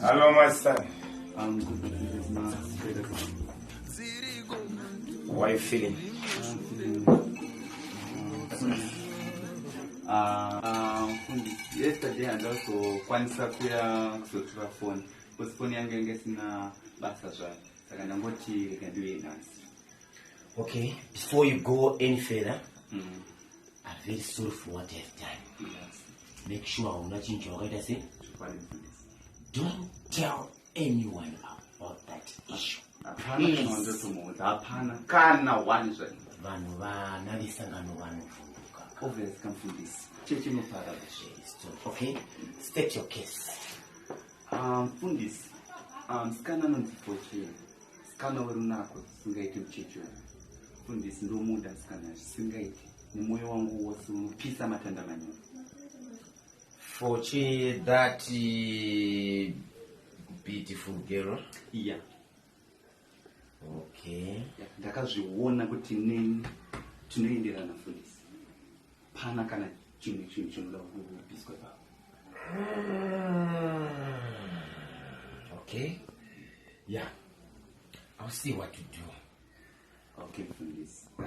Hello, my son. I'm good. How are you feeling? Uh, yesterday and also kwanisa kuya kuzotura phone because phone yangu yange sina basa zvayo saka ndangoti rega ndiuye nhasi Okay, before you go any further, mm. I'm very sorry for what you have done. Yes. Make sure I'm not in your right, say. Don't tell anyone about that issue. hapana kana wani zvaio vanhu vana vesangano vanovhunduka obvious kamfundisi cheche noparada okay state your case Ah, mfundisi, ah, msikana anonzi Fortune, msikana werunako zvisingaiti muchechi uyu. Mfundisi, ndomuda msikana zvisingaiti, nemoyo wangu wose unopisa matanda manyoro. Fochi that uh, beautiful girl. Yeah, okay ndakazviona kuti neni tinoenderana fundisi pana kana chimwe chinhu chinoda kupiswa ipapo okay ya yeah. i'll see what to do okay fundisi but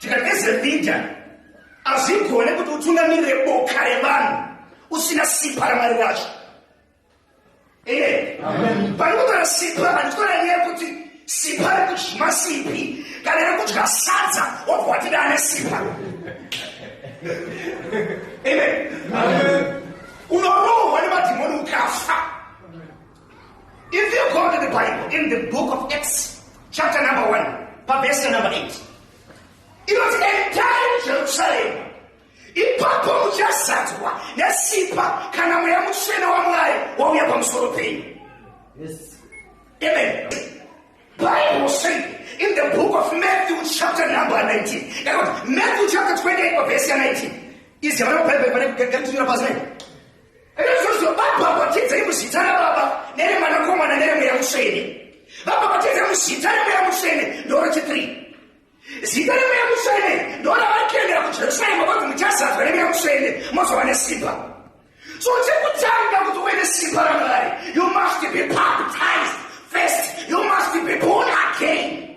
Tikageze media hazvigone kuti utungamirire boka revanhu usina sipa ramwari racho ee panokutara sipa handikona nyaya yekuti sipa rekudyi masipi kana rekudya sadza wobva watida ane sipa amen unorohwa nemadhimoni ukafa If you go to the Bible, in the book of Acts, chapter number 1, verse number 8, it was entire Jerusalem. ipapo muchazadzwa nesipa kana mweya mutsvene wamwari wauya pamusoro penyu amen bible said in the book of matthew chapter number 19 matthew chapter 28 verse 19 iziyavana bible pane kugaritonyora pasi Naizvozvo vabhabhatidzei muzita raBaba neremwanakomana neremweya mutsvene. Vabhabhatidzei muzita remweya mutsvene ndorechithree. Zita remweya mutsvene ndoravari kuendera kujerusarema vanzi muchazadzwa nemweya mutsvene mozova nesimba. So chekutanga kuti uve nesimba raMwari, you must be baptized first. You must be born again.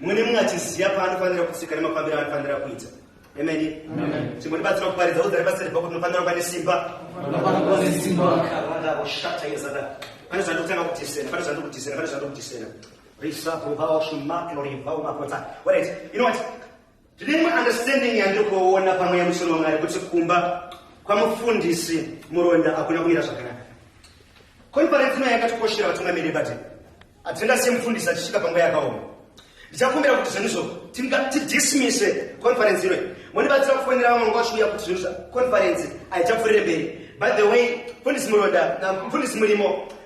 mumwe nemumwe achiziva paanofanira kusvika nemafambiro aanofanira kuita emeni chimbotibatsira kuparidza udzari basa rebva kuti unofanira kuva nesimba pane zvandokutanga kutisena pane zvandokutisena pane zvandokutisena risakuvaoshimaclorivaumakota warit you know what Tine imwe understanding yandiri kuona pamwe yemusoro waMwari kuti kumba kwamufundisi muronda hakuna kumira zvakanaka. Konferensi ino yakatikoshera vatungamiri ebate. Hatinga semufundisi achisvika panguva yakaoma. Ndichakumbira kuti zvinhu izvo tidismise konferensi ino. Mondibatsira kufonera vamwe nguva zviuya kuti zvinhu zva konferensi haichapfuurire mberi. By the way, mfundisi muronda, mfundisi murimo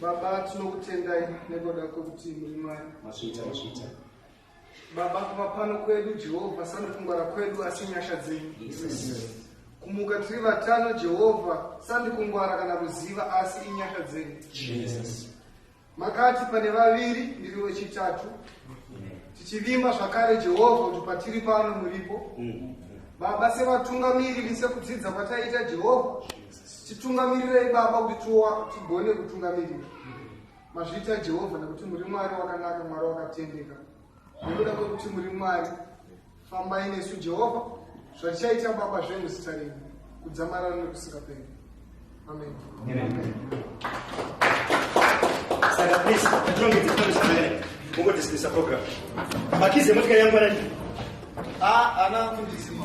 Baba tinokutendai nekuda kwekuti muri Mwari. Masvita masvita. Baba kuva pano kwedu Jehovha sandikungwara kwedu asi nyasha dzenyu. Kumuka tiri vatano Jehovha sandikungwara kana kuziva asi inyasha dzenyu. Makati pane vaviri ndiri wechitatu. Tichivimba zvakare Jehovha kuti patiri pano muripo. Mm. Baba sevatungamiriri sekudzidza kwataita Jehovha. Titungamirirei Baba kuti tigone kutungamirira mazviita Jehovha nekuti muri Mwari wakanaka, Mwari wakatendeka. Nekuda kwekuti muri Mwari, fambai nesu Jehovha, zvatichaita Baba zvenyu zita renyu kudzamarara nekusingaperi. Amen. Saka please, patinonge titori zvakanaka, ungodismisa program. Makize motikari yangu anani? Ah, ana kundisima.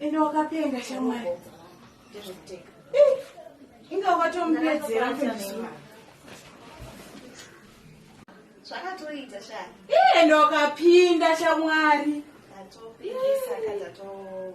ende wakapenga shamwari inga wakatomupedzera zvakatoita sha ende wakapinda shamwari That's all. Yes.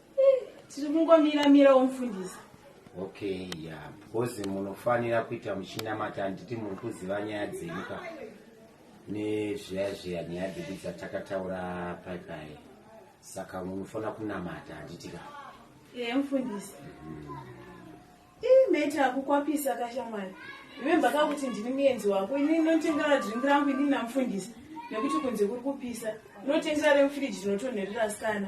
tiri kungomira mira womufundisa okay ya because munofanira kuita muchinamata handiti muri kuziva nyaya dzenyu ka nezviya zviya nyaya dzedu dzatakataura paipai saka munofanira kunamata handiti ka ye mufundisi mhm. ii mete akukwapisa kashamwari remember ka kuti ndiri muenzi wako ini ndinotengera drink rangu ini namufundisi nekuti kunze kuri kupisa ndinotengera remufiriji rinotonherera sikana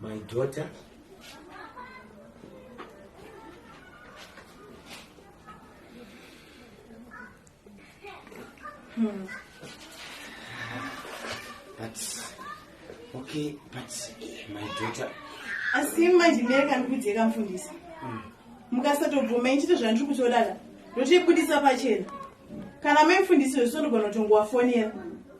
my daughter hmm. but okay but eh, my daughter asi manje mere kandikudzei kamfundisi hmm. mukasatobvuma ichito zvandiri kutodada ndotoibudisa pachena kana maimfundisi wesondogona kutongowafonera